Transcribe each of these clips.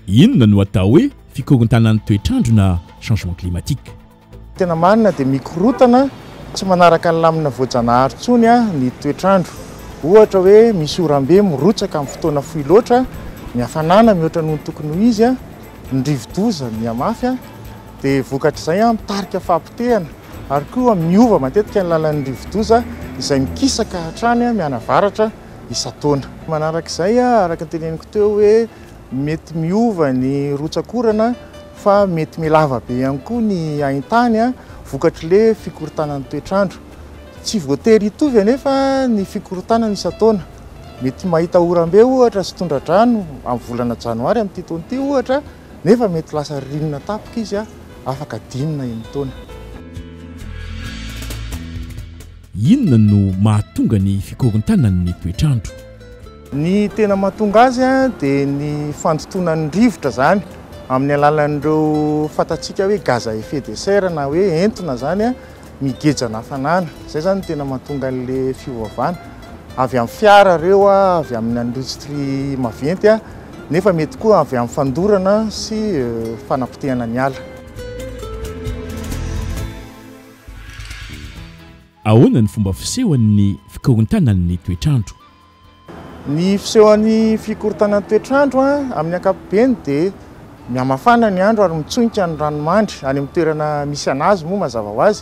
Inona no atao hoe fikorontanan'ny toetr'andro na changement climatique? Tena marina dia mikorotana tsy manaraka ny lamina voajanahary intsony ny toetr'andro. Ohatra hoe misy oram-be mirotsaka amin'ny fotoana fohy loatra, ny hafanana mihoatra noho ny tokony ho izy, ny rivo-doza mihamafy, Dia vokatr'izay, mitarika fahapotehana, ary koa miova matetika ny lalan'ny rivodoza izay mikisaka hatrany mianavaratra isan-taona. Manaraka izay, araka ny teneniko teo hoe mety miova ny rotsak'orana fa mety mihalava be ihany koa ny haintany vokatr'ilay fikorontanan'ny toetr'andro. Tsy voatery hitovy anefa ny fikorontanana isan-taona. Mety mahita oram-be ohatra sy tondra-drano amin'ny volana janoary amin'ity taona ity ohatra. Nefa mety lasa ririnina tapaka izy afaka dimy na enina taona. Inona no mahatonga ny fikorontanan'ny toetr'andro? Ny tena mahatonga azy dia ny fandotonan'ny rivotra izany amin'ny alalan'ireo fantatsika hoe gaz à effet de serre na hoe entona izany. migeja ny hafanana. Izay izany no tena mahatonga an'ilay fiovaovana. Avy amin'ny fiara ireo, avy amin'ny indostria maventy, nefa mety koa avy amin'ny fandorana sy fanapotehana ny ala. Ahoana ny fomba fisehoan'ny fikorontanan'ny toetr'andro Ny fisehoan'ny fikorontanan'ny toetr'andro amin'ny ankapobeny dia mihamafana ny andro ary mitsonika ny ranomandry. Any amin'ny toerana misy an'azy moa mazava ho azy,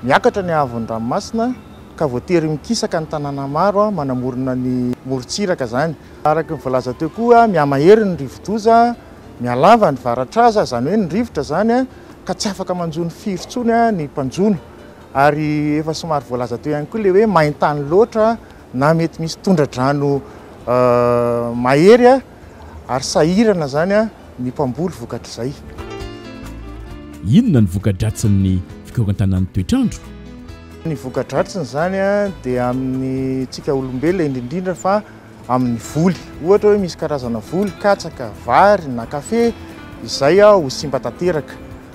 miakatra ny haavon'ny ranomasina ka voatery mikisaka ny tanàna maro manamorona ny morontsiraka izany. Araka ny voalaza teo koa, mihamahery ny rivodoza, mihalava ny varatraza, izany hoe ny rivotra izany, ka tsy afaka manjono firy intsony ny mpanjono. Ary efa somary voalaza teo ihany koa ilay hoe main-tany loatra. na mety misy tondra-drano mahery ary sahirana izany ny mpamboly vokatr'izay. Inona ny voka-dratsin'ny fikorontanan'ny toetr'andro? Ny voka-dratsiny izany dia amin'ny tsika olombelona indrindrindra fa amin'ny voly. Ohatra hoe misy karazana voly, katsaka, vary na kafe izay ho simba tanteraka.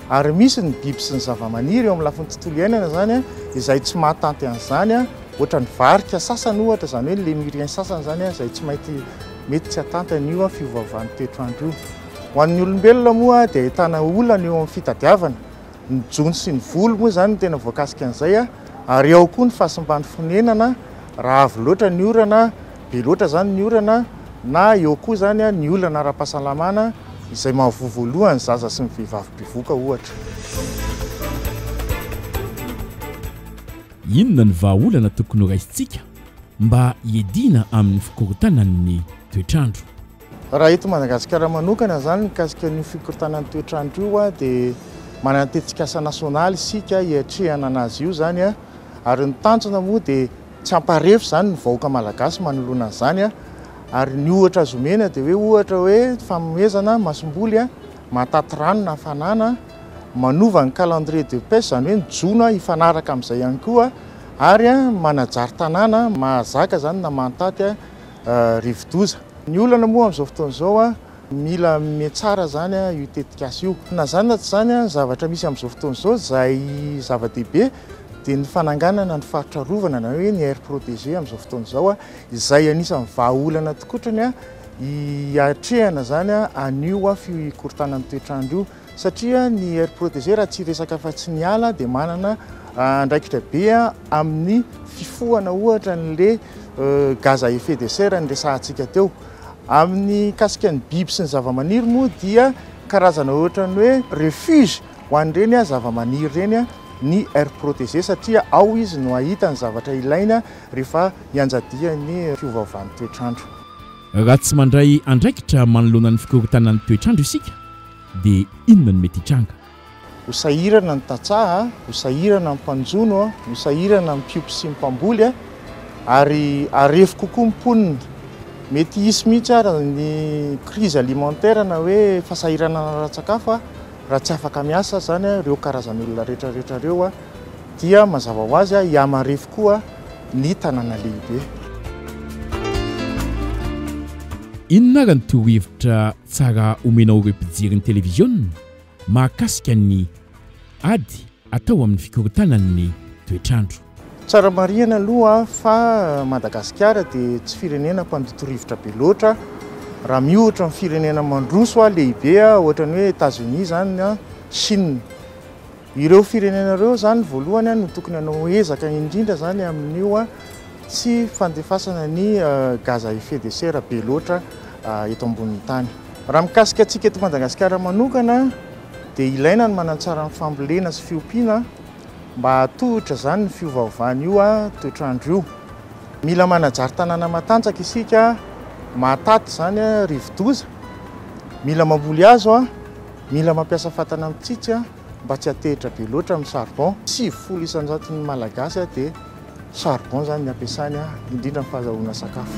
Ary misy ny biby sy ny zavamaniry eo amin'ny lafiny tontolo iainana izany izay tsy mahatanty an'izany, ohatra ny varika sasany ohatra, izany hoe ny Lémuriens sasany izany izay tsy maintsy mety tsy hahatanty an'io fiovaovan'ny toetr'andro io. Ho an'ny olombelona moa dia ahitana olana eo amin'ny fitadiavana, ny jono sy ny voly moa izany no tena voakasika an'izay, ary ao koa ny fahasimban'ny fonenana raha avy loatra ny orana, Be loatra izany ny orana na eo koa izany ny olana ara-pahasalamana izay mahavoa voalohany ny zaza sy ny vehivavy mpivoka ohatra. Inona ny vahaolana tokony horaisintsika mba hiadiana amin'ny fikorontanan'ny toetr'andro? Raha eto Madagasikara manokana izany mikasika an'io fikorontanan'ny toetr'andro io dia manana ny tetikasa nasionaly isika hiatrehana an'azy io izany ary ny tanjona moa dia tsy hamparefo izany ny vahoaka malagasy manoloana an'izany ary ny ohatra azo omena dia hoe ohatra hoe fanomezana masomboly mahataty rano na hafanana manova ny calendrier de pêche izany hoe ny jono hifanaraka amin'izay ihany koa ary manajary tanàna mahazaka izany na mahataty rivodoza. Ny olana moa amin'izao fotoana izao, mila mihatsara izany io tetikasa io. Na izany na tsy izany, ny zavatra misy amin'izao fotoana izao, izay zava-dehibe dia ny fananganana ny faritra arovana na hoe ny aire protégée amin'izao fotoana izao, izay anisan'ny vahaolana tokotrany hiatrehana izany an'io fikorontanan'ny toetr'andro io. satria ny aire protégée raha tsy resaka afa-tsy ny ala dia manana andraikitra be amin'ny fifohana ohatra an'le gaz à effet de serre niresahantsika teo. Amin'ny kasika ny biby sy ny zavamaniry moa dia karazana ohatra ny hoe refuge ho an'ireny zavamaniry ireny ny aire protégée satria ao izy no ahita ny zavatra ilaina rehefa ianjadian'ny fiovaovan'ny toetr'andro. Raha tsy mandray andraikitra manoloana ny fikorontanan'ny toetr'andro isika dia inona no mety hitranga? Ho sahirana ny tantsaha, ho sahirana ny mpanjono, ho sahirana ny mpiompy sy ny mpamboly, ary harefo kokoa ny mponina. Mety hisy mihitsy àry ny crise alimentaire na hoe fahasahiranana ara-tsakafo raha tsy afaka miasa izany ireo karazan'olona rehetrarehetra ireo, dia mazava ho azy hihamarefo koa ny tanàna lehibe. Inona ary ny torohevitra Tsara omena ho ireo mpijery ny televiziona mahakasika ny ady atao amin'ny fikorontanan'ny toetr'andro. Tsara marihana aloha fa Madagasikara dia tsy firenena mpandoto rivotra be loatra raha miohatra amin'ny firenena mandroso lehibe ohatran'ny hoe Etats-Unis izany, Chine. Ireo firenena ireo izany voalohany no tokony hanao ezaka indrindra izany amin'io tsy fandefasana ny gaz à effet de serre be loatra eto ambonin'ny tany. Raha mikasika antsika eto Madagasikara manokana dia ilaina ny manantsara ny fambolena sy fiompiana mba hahatohitra izany ny fiovaovan'io toetr'andro io. Mila manajary tanàna matanjaka isika mahataty izany rivodoza. Mila mamboly hazo. Mila mampiasa fatana mitsitsy mba tsy hatehitra be loatra amin'ny charbon. Sivifolo isanjaton'ny Malagasy dia charbon izany ny ampiasany indrindra amin'ny fahazahoana sakafo.